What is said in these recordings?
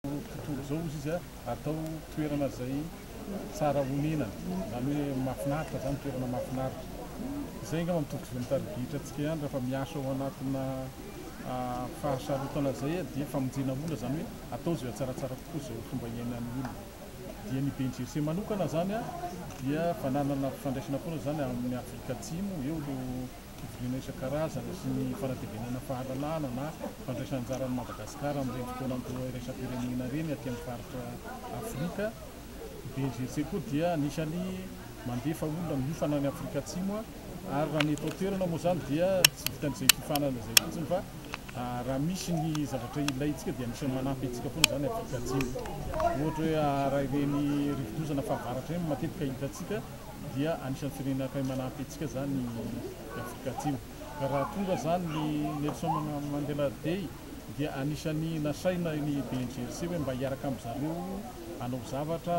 tontolo izao ozy izy atao toerana izay tsara honenana zany hoe mafinaritra zany toerana mafinaritra izay nga mampitovy ny tarigitra atsika ihany rafa miasa ao anatina ah, fahasarotana izay dia famonjena olona zany hoe atao izay tsaratsara kokoa izay fomba iainan'ny olona dia ny BNGC manokana zany dia fananana fifandraisana foana zany amin'ny Afrika Atsimo eo no fivoriana isan-karazany sy ny fanatevenana fahalalana na fandraisana anjara an'i Madagasikara amin'ireny fotoan'andro iraisam-pirenena ireny aty amin'ny faritra Afrika. I BNGC koa dia anisan'ny mandefa olona miofana any Afrika Atsimo ary raha ny eto an-toerana moa izany dia tsy vitan'izay fiofanana izay fotsiny fa raha misy ny zavatra ilaintsika dia anisan'ny manampy antsika foana izany Afrika Atsimo. Ohatra hoe raha ireny rivodoza na fahavaratra ireny matetika hitantsika. dia anisan'ny firenena akay manampy antsika izany i Afrika Atsimo. Ka raha tonga izany ny Nelson Mandela Day dia anisan'ny nasaina ny BNGRC hoe mba hiaraka amin'i zareo hanao zavatra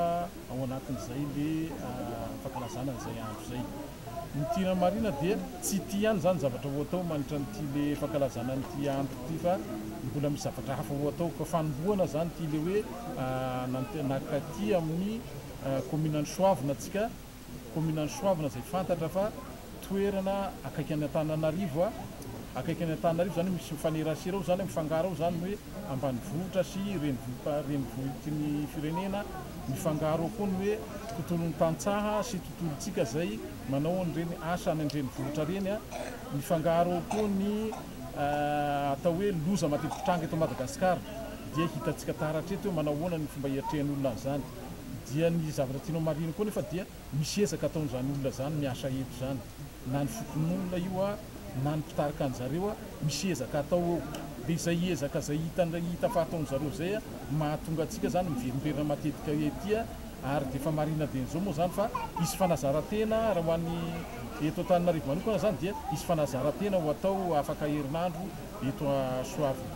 ao anatin'izay ilay fankalazana an'izay andro izay. Ny tena marina dia tsy ity ihany izany zavatra ho atao mandritra an'ity ilay fankalazana an'ity andro ity fa mbola misy zavatra hafa ho atao. Ka fanombohana izany ity ilay hoe naka aty amin'ny. Kaominan'i Soavina tsika, kaominan'i Soavina izay fantatra fa toerana akaiky an'i Antananarivo, akaiky an'i Antananarivo izany hoe misy mifanerasera ao izany, mifangaro ao izany ny hoe ambanivohitra sy renivohi- renivohitry ny firenena, mifangaro ao koa ny hoe tontolon'ny tantsaha sy tontolontsika izay manao an'ireny asa any an-drenivohitra ireny, mifangaro ao koa ny atao hoe loza matetiky mitranga eto Madagasikara, dia hitantsika taratra eto hoe manao ahoana ny fomba hiatrehan'ny olona an'izany. Dia ny zavatra tianao marihina koa nefa dia misy ezaka ataon'izany olona izany miasa eto izany, na ny fokonolona io na ny mpitarika anjareo, misy ezaka atao eo, dia izay ezaka izay hitan'ilay hita fa ataon'zareo izay mahatonga antsika izany miverimberina matetika ety, ary dia efa marihina dieny izao moa izany fa hisy fanazarantena raha ho an'ny eto Antananarivo manokana izany dia hisy fanazarantena ho atao afaka herinandro eto Soavina.